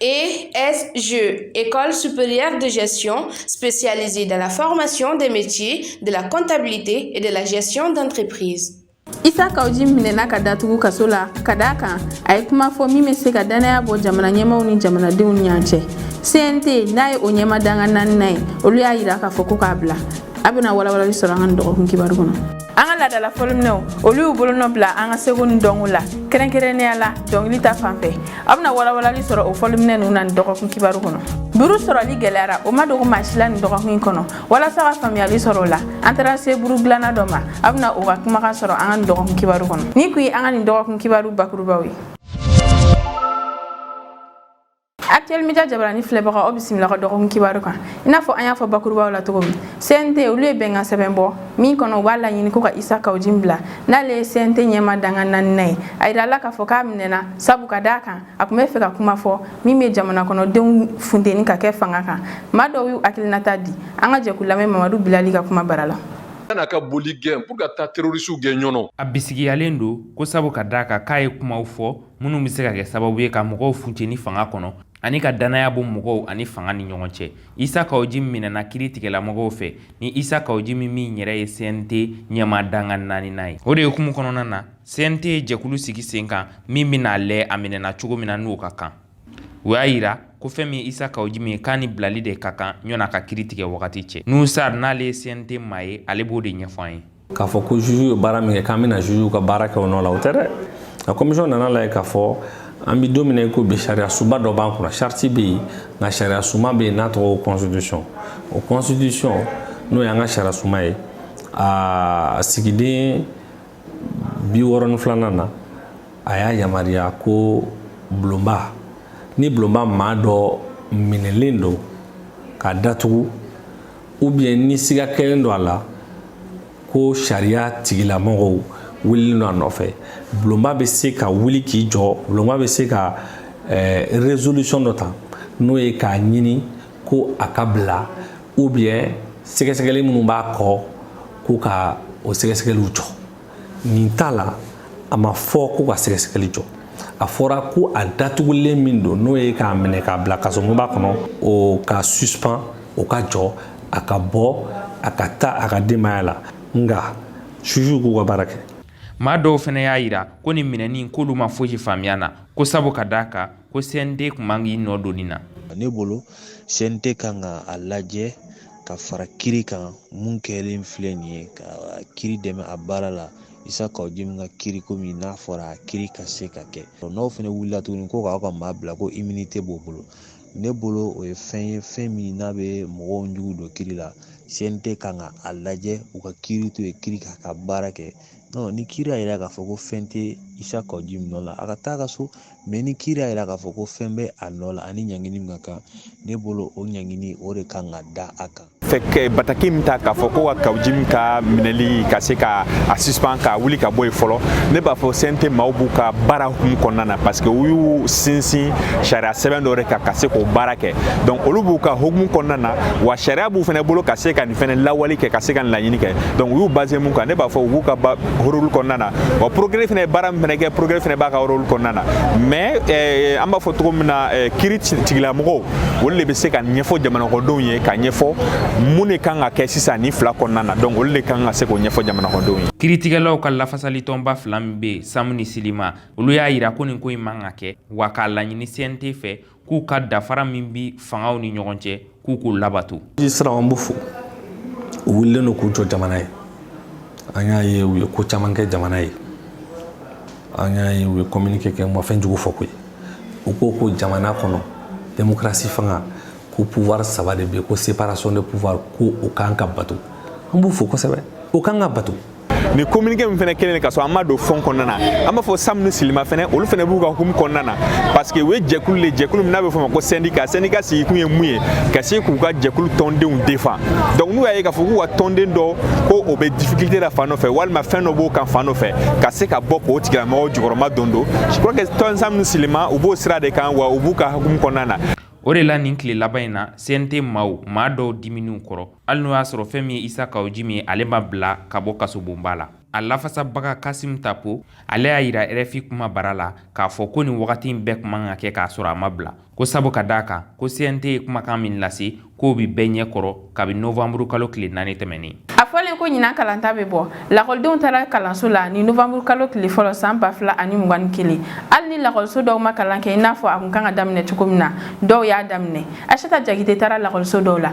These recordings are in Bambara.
ESG, École supérieure de gestion spécialisée dans la formation des métiers de la comptabilité et de la gestion d'entreprise. isa kauji minɛna k'a datugu kaso la ka d'a kan a ye kuma fɔ min bɛ se ka dannaya bɔ jamana ɲɛmaaw ni jamanadenw ni ɲɔgɔn cɛ cnt n'a ye o ɲɛmaa dankan naaninan ye olu y'a yira k'a fɔ ko k'a bila a bɛna walawalali sɔrɔ an ka nin dɔgɔkun kibaru kɔnɔ an ka laadala fɔliminɛnw olu y'u bolonɔ bila an ka seko ni dɔnko la kɛrɛnkɛrɛnnenya la dɔnkili ta fan fɛ a bɛna walawalali sɔrɔ o fɔliminɛn ninnu na nin dɔgɔkun kibaru kɔnɔ buru sɔrɔli gɛlɛyara o ma dogo maa si la nin dɔgɔkun in kɔnɔ walasa ka faamuyali sɔrɔ o la an taara se buru dilanna dɔ ma a bɛna o ka kumakan sɔrɔ an ka nin dɔgɔkun kibaru kɔnɔ nin kun ye an ka nin dɔgɔkun kibaru bakurubaw ye Actuel Media jabaranin filɛbagaw aw bisimila an ka dɔgɔkun kibaru kan i n'a fɔ an y'a fɔ bakurubaw la cogo min CNT olu ye bɛnkan sɛbɛn bɔ min kɔnɔ u b'a laɲini ko ka Isa Kawujin bila n'ale ye CNT ɲɛmaa dankan naaninan ye a yirala k'a fɔ k'a minɛna sabu ka d'a kan a tun b'a fɛ ka kuma fɔ min bɛ jamana kɔnɔdenw funteni ka kɛ fanga kan maa dɔw y'u hakilinata di an ka jɛ k'u lamɛn Mamadu Bilali ka kuma bara la kana ka boli gɛn pour ka taa terorisiw gɛn ɲɔnɔ a bisigiyalen don ko sabu ka d'a kan k'a ye kumaw fɔ minnu bɛ se ka kɛ sababu ye ka mɔgɔw funteni fanga kɔnɔ ani ka dannaya bɔ mɔgɔw ani fanga ni ɲɔgɔn cɛ isa kaoji minɛna kiri tigɛlamɔgɔw fɛ ni isa kaojim min yɛrɛ ye cnt ɲɛmaa dankan naaninan ye o de hukumu kɔnɔna na cnt ye jɛkulu sigi sen kan min bɛna a lɛ a minɛna cogo min na n'o ka kan u y'a yira ko fɛn min ye isa kaojim ye k'a ni bilali de ka kan yanni a ka kiri tigɛ wagati cɛ nuhun sar n'ale ye cnt maa ye ale b'o de ɲɛfɔ an ye k'a fɔ ko juge ye baara min kɛ k'an bɛna juge ka baara kɛ o nɔ la o tɛ dɛ nka kɔmisɔn nana a lajɛ k'a fɔ an bɛ don min na i ko bi sariya sunba dɔ b'an kunna sariti bɛ yen nka sariya sunba bɛ yen n'a tɔgɔ ko constitution o constitution n'o y'an ka sariya sunba ye a sigiden bi wɔɔrɔ ni filanan na a y'a yamaruya ko bulonba ni bulonba maa dɔ minɛlen don k'a datugu ou bien ni siga kɛlen don a la ko sariya tigilamɔgɔw wulilen don a nɔfɛ bulonba bɛ se ka wuli k'i jɔ bulonba bɛ se ka eh, résolution dɔ ta n'o ye k'a ɲini ko a ka bila ou bien sɛgɛsɛgɛli minnu b'a kɔ ko ka o sɛgɛsɛgɛliw jɔ nin t'a la a ma fɔ ko ka sɛgɛsɛgɛli jɔ a fɔra ko a datugulen min don n'o ye k'a minɛ k'a bila kasobonba kɔnɔ o ka suspend o ka jɔ a ka bɔ a ka taa a ka denbaya la nka jugew k'u ka baara kɛ maa dɔw fana y'a yira ko nin minɛni k'olu ma fosi faamuya na ko sabu ka d'a kan ko cnt tun man k'i nɔ don nin na ne bolo cnt kan ka a lajɛ ka fara kiri kan mun kɛlen filɛ nin ye ka kiri dɛmɛ a baara la isa kawu jimi ka kiri komi n'a fɔra a kiri ka se ka kɛ n'aw fana wulila tuguni ko k'aw ka maa bila ko immunité b'o bolo ne bolo o ye fɛn ye fɛn min n'a bɛ mɔgɔw jugu don kiri la cnt kan ka a lajɛ u ka kiri to yen kiri k'a ka baara kɛ non ni kiri y'a yira k'a fɔ ko fɛn tɛ isa kawu jimi nɔ la a ka taa ka so mais ni kiri y'a yira k'a fɔ ko fɛn bɛ a nɔ la ani ɲangini min ka kan ne bolo o ɲangini o de kan ka da a kan fɛ bataki min ta k'a fɔ ko ka kawu jimi ka minɛli ka se ka a suspend ka wuli ka bɔ yen fɔlɔ ne b'a fɔ cnt maaw b'u ka baara hukumu kɔnɔna na parce que u y'u sinsin sariya sɛbɛn dɔ de kan ka se k'o baara kɛ donc olu b'u ka hukumu kɔnɔna na wa sariya b'u fana bolo ka se ka fɛnɛ lawali kɛ ka se ka laɲini kɛ donc u y'u basé mun kan ne b'a fɔ u b'u ka rôle kɔnɔna na wa procureur fɛnɛ ye baara min fɛnɛ kɛ procureur fɛnɛ b'a ka rôle kɔnɔna na mais eh, an b'a fɔ cogo min na eh, kiri tigilamɔgɔw olu de bɛ se ka ɲɛfɔ jamanakɔnɔdenw ye ka ɲɛfɔ mun de kan ka kɛ sisan nin fila kɔnɔna na donc olu de kan ka se k'o ɲɛfɔ jamanakɔnɔdenw ye kiritigɛlaw ka lafasalitɔnba fila min bɛ yen sam ni silima olu y'a yira ko nin ko in man ka kɛ wa k'a laɲini cnt fɛ k'u ka danfara min bi fangaw ni ɲɔgɔn cɛ k'u k'o labato sisan an b'u fo u wulilen don k'u jɔ jamana ye an y'a ye u ye ko caman kɛ jamana ye an y'a ye u ye communiqué kɛ ma fɛn jugu fɔ koyi u ko ko jamana kɔnɔ démocratie fanga ko pouvoir saba de bɛ ko séparation de pouvoir ko o kan ka bato an b'u fo kosɛbɛ o kan ka bato ni communiqué min fana kɛlen ka sɔrɔ an ma don fond kɔnɔna na an b'a fɔ sam ni silima fana olu fana b'u ka hukumu kɔnɔna na parce que u ye jɛkulu le jɛkulu min n'a bɛ fɔ ma ko sɛndika sɛndika sigikun ye mun ye ka se k'u ka jɛkulu tɔndenw défend donc n'u y'a ye k'a fɔ k'u ka tɔnden dɔ ko o bɛ difficulté la fan dɔ fɛ walima fɛn dɔ b'o kan fan dɔ fɛ ka se ka bɔ k'o tigilamɔgɔw jukɔrɔmadondon je crois que tɔn sam ni silima u b'o sira de kan wa u b'u ka hukumu kɔnɔna na o de la nin tile laban in na cnt maaw maa dɔw dimina u kɔrɔ hali n'o y'a sɔrɔ fɛn min ye isa kawu jimi ye ale ma bila ka bɔ kasobonba la a lafasabaga kasim tapo ale y'a yira rfi kumabara la k'a fɔ ko nin wagati in bɛɛ kun man ka kɛ k'a sɔrɔ a ma bila ko sabu ka d'a kan ko cnt ye kumakan min lase k'o bi bɛɛ ɲɛ kɔrɔ kabi novanburu kalo tile naani tɛmɛnen a fɔlen ko ɲinan kalanta bɛ bɔ lakɔlidenw taara kalanso la ni novanburu kalo tile fɔlɔ saan ba fila ani mugan ni kelen hali ni lakɔliso dɔw ma kalan kɛ i n'a fɔ a kun kan ka daminɛ cogo min na dɔw y'a daminɛ asita jakite taara lakɔliso dɔw la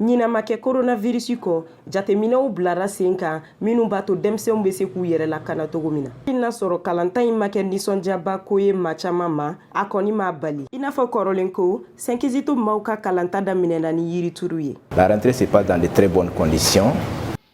ɲinɛ ma kɛ koronavirisi kɔ jateminɛw bilara sen kan minnu b'a to denmisɛnw bɛ se k'u yɛrɛ lakana cogo min na i n'a sɔrɔ kalanta in ma kɛ nisɔndiyaba ko ye maa caman ma a kɔni m'a bali i n'a fɔ kɔrɔlen ko sɛn kizito maaw ka kalanta daminɛna ni yirituru ye la rentrée se passe dans de très bonnes conditions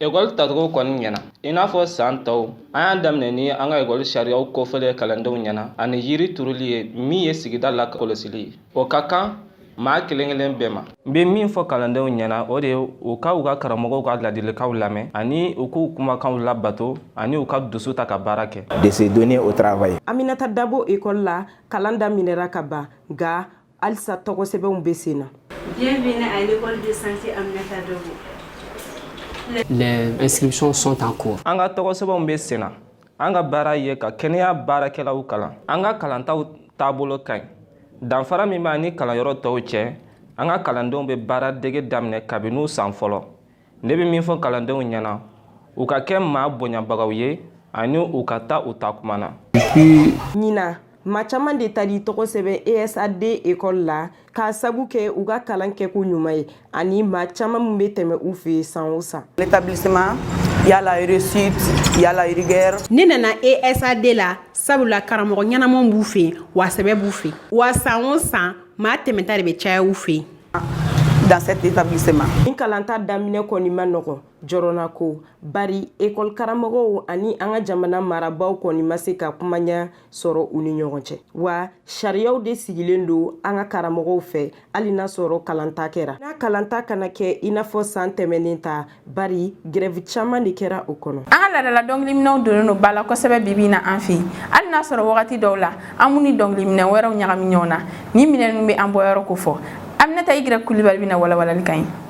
ekɔli tacogo kɔni ɲɛna i n'a fɔ saan tɔw an y'a daminɛ ni an ka ekɔli sariyaw kofɔli ye kalandenw ɲɛna ani yiri turuli ye min ye sigida lakɔlɔsili ye o ka kan maa kelen kelen bɛɛ ma n bɛ min fɔ kalandenw ɲɛna o de ye u ka u ka karamɔgɔw ka ladilikanw lamɛn ani u k'u kumakanw labato ani u ka dusu ta ka baara kɛ de se donner au travail aminata dabo école la kalan daminɛra ka ban nka halisa tɔgɔsɛbɛnw bɛ sen na bienvenue à l'école de santé aminata dabo les inscriptions sont en cours an ka tɔgɔsɛbɛnw bɛ sen na an ka baara ye ka kɛnɛya baarakɛlaw kalan an ka kalantaw taabolo ka ɲi danfara min b'a ni kalanyɔrɔ tɔw cɛ an ka kalandenw bɛ baara dege daminɛ kabini san fɔlɔ ne bɛ min fɔ kalandenw ɲɛna u ka kɛ maa bonyabagaw ye ani u ka taa u ta kuma na ɲinan Maa caman de taar'i tɔgɔ sɛbɛn esad école la k'a sabu kɛ u ka kalan kɛko ɲuman ye ani maa caman minnu bɛ tɛmɛ u fɛ yen san o san l'établissement il y a la réussite il y a la rigueur ne nana esad la sabula karamɔgɔ ɲɛnaman b'u fɛ yen wa sɛbɛ b'u fɛ wa san o san maa tɛmɛta de bɛ caya u fɛ yen dans cet établissement nin kalanta daminɛ kɔni ma nɔgɔ jɔrɔnanko bari école karamɔgɔw ani an ka jamana marabaaw kɔni ma se ka kuma ɲa sɔrɔ u ni ɲɔgɔn cɛ wa sariyaw de sigilen don an ka karamɔgɔw fɛ hali n'a sɔrɔ kalanta kɛra n'a kalanta kana kɛ i n'a fɔ san tɛmɛnen ta bari grɛvi caman de kɛra o kɔnɔ an ka laadala dɔngiliminɛw donnen don ba la kosɛbɛ bibi na an fɛ hali n'a sɔrɔ wagati dɔw la an b'u ni dɔngiliminɛ wɛrɛw ɲagami ɲɔgɔn na nin minɛnw bɛ an bɔyɔrɔ kofɔ aminata igrɛ kulibali bɛna walawalali k'an ye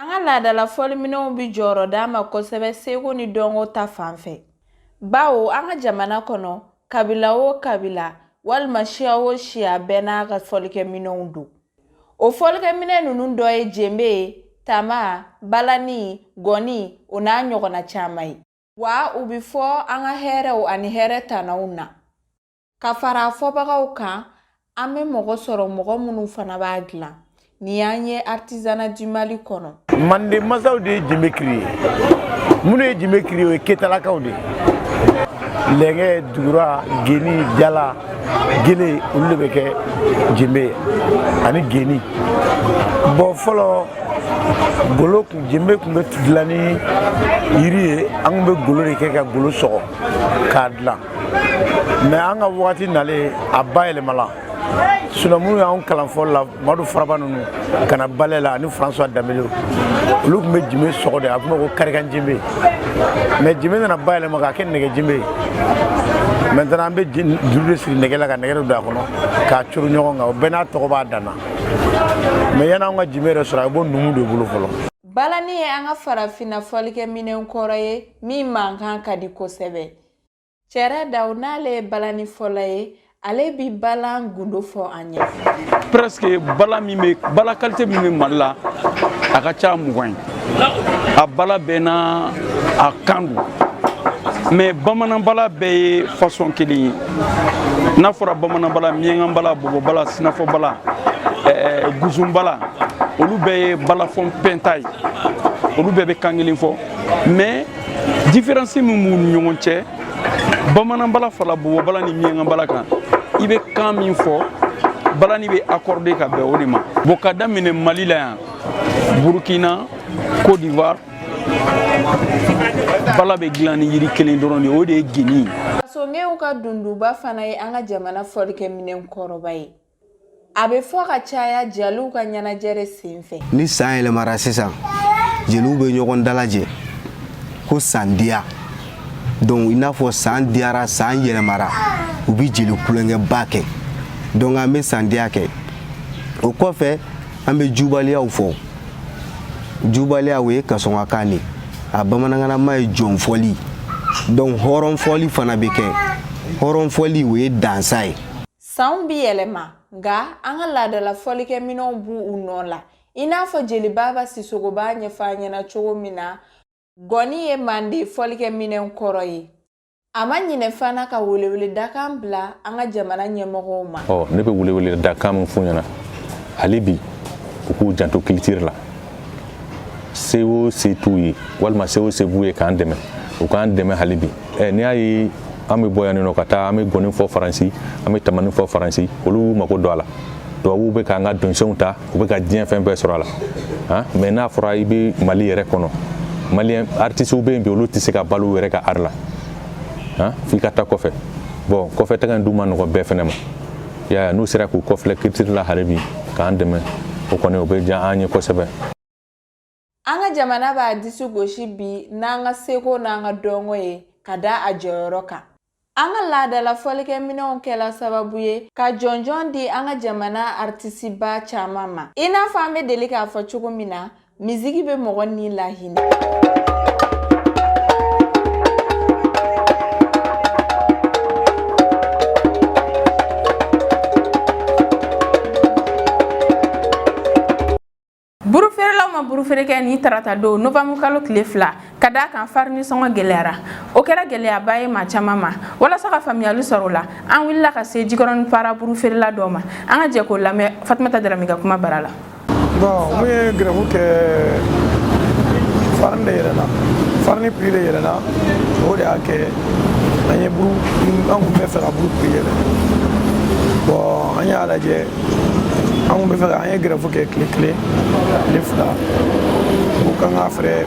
An ka laadala fɔliminɛnw bi jɔyɔrɔ d'a ma kosɛbɛ seko ni dɔnko ta fan fɛ bawo an ka jamana kɔnɔ kabila o kabila walima siya o siya bɛɛ n'a ka fɔlikɛminɛnw don o fɔlikɛminɛn ninnu dɔ ye jenbe ye tama balani gɔni o n'a ɲɔgɔnna caman ye wa u bi fɔ an ka hɛrɛw ani hɛrɛ tanaw na ka fara fɔbagaw kan an bɛ mɔgɔ sɔrɔ mɔgɔ minnu fana b'a dilan nin y'an ye artisanat du mali kɔnɔ manden masaw de ye jimbe créé minnu ye jimbe créé o ye ketalakaw de ye lɛngɛ dugura geni jala gele olu de bɛ kɛ jimbe ye ani geni bon fɔlɔ golo kun jembe kun bɛ dilan ni yiri ye an kun bɛ golo de kɛ ka golo sɔgɔ k'a dilan mais an ka wagati nalen a bayɛlɛmala sinon minnu y'anw kalan fɔlɔ la madu faraba ninnu ka na ballet la ani françois dembélé olu kun bɛ jime sɔgɔ de a kun bɛ ko karikan jimbe mais jime nana bayɛlɛma k'a kɛ nɛgɛ jimbe maintenant an bɛ juru de siri nɛgɛ la ka nɛgɛ de don a kɔnɔ k'a coron ɲɔgɔn kan o bɛɛ n'a tɔgɔ b'a dan na mais yan'anw ka jime yɛrɛ sɔrɔ a bɛ bɔ numu de bolo fɔlɔ balani ye an ka farafinna fɔlikɛ minɛn kɔrɔ ye min mankan ka di kosɛbɛ cɛrɛ daw n'ale ye balani fɔla ye ale bi balan gundo fɔ an ye presque bala min bɛ bala kalite min bɛ mali la a ka ca mugan ye a bala bɛɛ n'a kan don mɛ bamananbala bɛɛ ye fasɔn kelen ye n'a fɔra bamananbala miɲɛnkanbala bɔbɔbala sinafɔbala eh, guzunbala olu bɛɛ ye balafɔn pɛnta ye olu bɛɛ bɛ kan kelen fɔ mɛ diferansi min b'u ni ɲɔgɔn cɛ bamanan bala fara bɔbɔ bala ni miɲɛnka bala kan i bɛ kan min fɔ balani bɛ accorde ka bɛn o de ma bon ka daminɛ mali la yan burkina cote d'ivoire bala bɛ dilan ni yiri kelen dɔrɔn de o de ye geni ye kasongew ka dunduba fana ye an ka jamana fɔlikɛminɛn kɔrɔba ye a bɛ fɔ ka caya jeliw ka ɲɛnajɛ de senfɛ ni san yɛlɛmara sisan jeliw bɛ ɲɔgɔn dalajɛ ko san diya donc i n'a fɔ san diyara san yɛlɛmara u bɛ jeli kulonkɛba kɛ donc an bɛ san diya kɛ o kɔfɛ an bɛ jubaliyaw fɔ jubaliya o ye kasɔnkakan de a bamanankanama ye jɔnfɔli donc hɔrɔnfɔli fana bɛ kɛ hɔrɔnfɔli o ye dansa ye Sanw bi yɛlɛma nka an ka laadala fɔlikɛminɛnw b'u nɔ la i n'a fɔ jeli baba sisogo b'a ɲɛfɔ an ɲɛna cogo min na gɔni ye manden fɔlikɛminɛn kɔrɔ ye a ma ɲinɛ fana ka weleweledakan bila an ka jamana ɲɛmɔgɔw ma ne bɛ weleweledakan min f'u ɲɛna hali bi u k'u janto kilitiri la se o se t'u ye walima se o se b'u ye k'an dɛmɛ u k'an dɛmɛ hali bi ɛ n'i y'a ye an bɛ bɔ yan nɔ ka taa an bɛ gɔni fɔ faransi an bɛ tamani fɔ faransi olu mako don a la tubabuw bɛ k'an ka dɔnsenw ta u bɛ ka diɲɛ fɛn bɛɛ sɔrɔ a la han mɛ n'a fɔra i bɛ mali yɛrɛ kɔnɔ maliyɛn artisiw bɛ yen bi olu tɛ se ka balo u yɛrɛ ka ari la han f'i ka taa kɔfɛ bon kɔfɛ taga in dun ma nɔgɔ bɛɛ fɛnɛ ma y'a n'u sera k'u kɔfilɛ kilitiri la hali bi k'an dɛmɛ o kɔni o bɛ diya an ye kosɛbɛ an ka jamana b'a disi gosi bi n'an ka seko n'an ka dɔnko ye ka da a jɔyɔrɔ kan an ka laadala fɔlikɛminɛnw kɛla sababu ye ka jɔnjɔn di an ka jamana aritisiba caman ma i n'a fɔ an bɛ deli k'a fɔ cogo min na Miziki bɛ mɔgɔ ni lahinɛ. Burufeerelaw ma buru feere kɛ nin tarata don nowanburu kalo tile fila ka d'a kan farini sɔngɔ gɛlɛyara o kɛra gɛlɛyaba ye maa caman ma walasa ka faamuyali sɔrɔ o la an wulila ka se jikɔrɔni para buru feerela dɔ ma an ka jɛ k'o lamɛn fatumata darame ka kuma bara la Bon, mun ye grève kɛ farini de yɛlɛna farini prix de yɛlɛna o de y'a kɛ an ye buru an kun bɛ fɛ ka buru prix yɛlɛ bon an y'a lajɛ an kun bɛ fɛ ka an ye grève kɛ tile kelen tile fila ko k'an ka fɛɛrɛ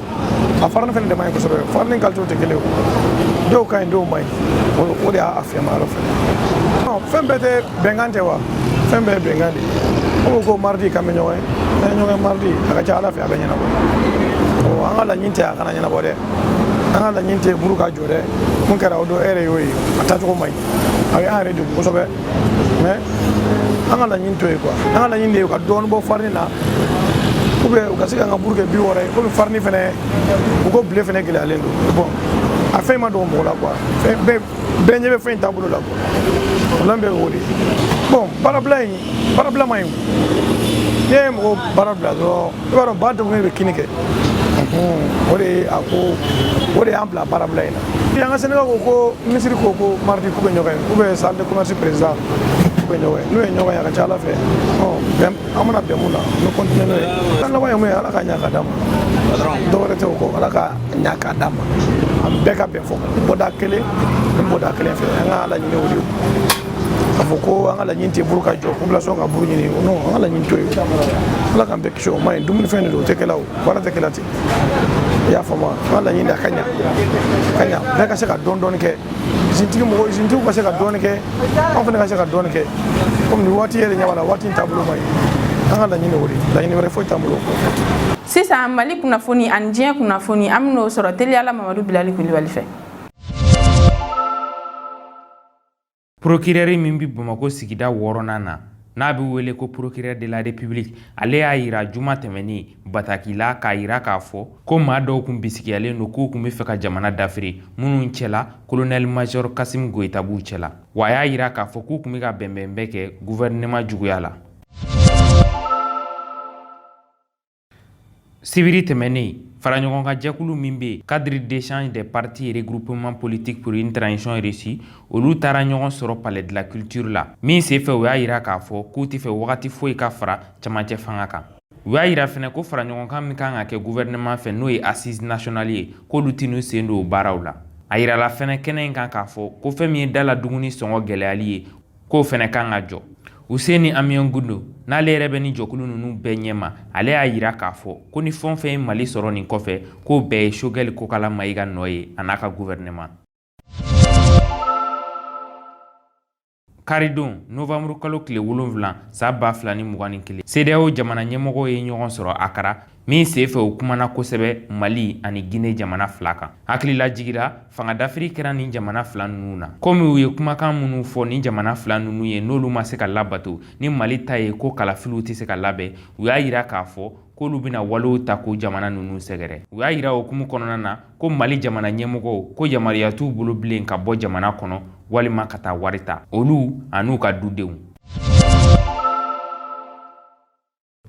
a farini fɛnɛ de man ɲi kosɛbɛ farini kalitew tɛ kelen ye dɔw ka ɲi dɔw man ɲi o de y'a fiyɛma yɔrɔ fɛnɛ fɛn bɛɛ tɛ bɛnkan tɛ wa fɛn bɛɛ ye bɛnkan de ye ko ko mardi k'an bɛ ɲɔgɔn ye n'an ye ɲɔgɔn ye mardi a ka ca ala fɛ a bɛ ɲɛnabɔ an ka laɲini tɛ a kana ɲɛnabɔ dɛ an ka laɲini tɛ buru ka jɔ dɛ mun kɛra o don e yɛrɛ y'o ye a taacogo man ɲi a ye an yɛrɛ degun kosɛbɛ mais an ka laɲini to ye quoi an ka laɲini de ye ka dɔɔni bɔ farini na ou bien u ka se k'an ka buru kɛ bi wɔɔrɔ ye komi farini fɛnɛ u ko blé fɛnɛ gɛlɛyalen don bon a fɛn ma dogo mɔgɔ la quoi bɛɛ bɛɛ ɲɛ bɛ fɛn in taabolo la quoi problème bɛ o de bon baarabila in baarabila man ɲi n'i ye mɔgɔ baara bila dɔrɔn i b'a dɔn ba degunnen bɛ kinni kɛ o de ye a ko o de y'an bila baarabila in na an ka syndicat ko ko minisiri ko ko mardi k'u bɛ ɲɔgɔn ye k'u bɛ salle de commerce président k'u bɛ ɲɔgɔn ye n'u ye ɲɔgɔn ye a ka ca ala fɛ an mana bɛn mun na an bɛ continuer n'o ye an laban ye mun ye ala ka ɲa ka d'a ma dɔwɛrɛ tɛ o kɔ ala ka ɲa ka d'a ma an bɛɛ ka bɛn fɔ bɔda kelen ni bɔda kelen fɛ an ka laɲini o de ye k'a fɔ ko an ka laɲini tɛ buru ka jɔ population ka buru ɲini non an ka laɲini to ye ala k'an bɛɛ kisi o ma ɲi dumunifɛn de don o tɛ kɛla o baara tɛ kɛla ten i y'a faamu an ka laɲini a ka ɲa ka ɲa bɛɛ ka se ka dɔɔni dɔɔni kɛ izintigi mɔgɔ izintigiw ka se ka dɔɔni kɛ anw fana ka se ka dɔɔni kɛ komi nin waati yɛrɛ ɲɛ b'a la waati in taabolo ma ɲi an ka laɲini o de laɲini wɛrɛ foyi t'an bolo sisan mali kunnafoni ani diɲɛ kunnafoni an bɛn'o sɔrɔ teliyala mamadu bilali kulibali fɛ Procureur min bɛ bamakɔ sigida wɔɔrɔnan na n'a bɛ wele ko procureur de la république ale y'a yira juma tɛmɛnen bataki la k'a yira k'a fɔ ko maa dɔw kun bisigiyalen don k'u kun bɛ fɛ ka jamana dafiri minnu cɛla kolonɛli major kasim goyita b'u cɛla wa a y'a yira k'a fɔ k'u kun bɛ ka bɛnbɛn bɛɛ kɛ gouvernement juguya la Sibiri tɛmɛnen faraɲɔgɔnkan jɛkulu min bɛ yen cadre d'échange des partis regroupement politique pour une transition réussie olu taara ɲɔgɔn sɔrɔ palais de la culture la min senfɛ u y'a yira k'a fɔ k'u tɛ fɛ wagati foyi ka fara camancɛ fanga kan u y'a yira fɛnɛ ko faraɲɔgɔnkan min kan ka kɛ gouvernement fɛ n'o ye assise nationale ye k'olu tɛn'u sen don o baaraw la a yirala fɛnɛ kɛnɛ in kan k'a fɔ ko fɛn min ye da la dumuni sɔngɔ gɛlɛyali ye k'o fɛnɛ kan ka jɔ Housseini Amion Guindo n'ale yɛrɛ bɛ ni jɛkulu ninnu bɛɛ ɲɛma ale y'a yira k'a fɔ ko ni fɛn o fɛn ye Mali sɔrɔ nin kɔfɛ k'o bɛɛ ye Choguel Kokala Mayiga nɔ ye a n'a ka gouvernement. Karidon novembre kalo tile wolonwula san ba fila ni mugan ni kelen CEDEAO jamana ɲɛmɔgɔw ye ɲɔgɔn sɔrɔ Akara min senfɛ u kumana kosɛbɛ mali ani gine jamana fila kan hakililajigi ra fangadafiri kɛra nin jamana fila ninnu na komi u ye kumakan minnu fɔ nin jamana fila ninnu ye n'olu ma se ka labato ni mali ta ye ko kalafiliw tɛ se ka labɛn u y'a yira k'a fɔ k'olu bɛna walew ta k'o jamana ninnu sɛgɛrɛ u y'a yira o hukumu kɔnɔna na ko mali jamana ɲɛmɔgɔw ko yamaruya t'u bolo bilen ka bɔ jamana kɔnɔ walima ka taa wari ta olu an'u ka dudenw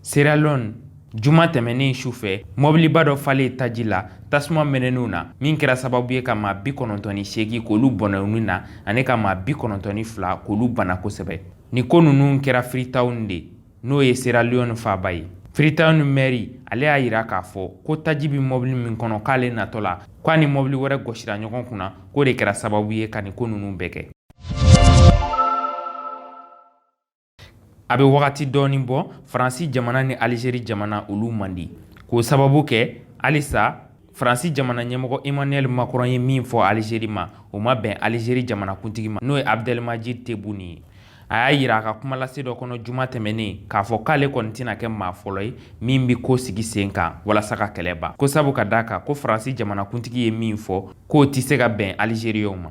Sierra Leone Juma tɛmɛnen su fɛ, mɔbiliba dɔ falen taji la tasuma mɛnɛnenw na, min kɛra sababu ye ka maa bi kɔnɔntɔn ni seegin k'olu bɔnɛ u ni na ani ka maa bi kɔnɔntɔn ni fila k'olu bana kosɛbɛ. Nin ko ninnu kɛra Freetown de, n'o ye Sierra Leone faaba ye. Freetown mɛri, ale y'a yira k'a fɔ ko taji bɛ mɔbili min kɔnɔ k'ale natɔ la, k'a ni mɔbili wɛrɛ gosira ɲɔgɔn kunna, k'o de kɛra sababu ye ka nin ko ninnu bɛɛ kɛ. A bɛ wagati dɔɔnin bɔ faransi jamana ni alizeri jamana olu man di k'o sababu kɛ halisa faransi jamana ɲɛmɔgɔ Emmanuel Macron ye min fɔ alizeri ma o ma bɛn alizeri jamanakuntigi ma n'o ye Abdelmadjid Tebboune ye a y'a yira a ka kumalase dɔ kɔnɔ juma tɛmɛnen k'a fɔ k'ale kɔni tɛna kɛ maa fɔlɔ ye min bɛ ko sigi sen kan walasa ka kɛlɛ ban ko sabu ka d'a kan ko faransi jamanakuntigi ye min fɔ k'o tɛ se ka bɛn alizeriyɛnw ma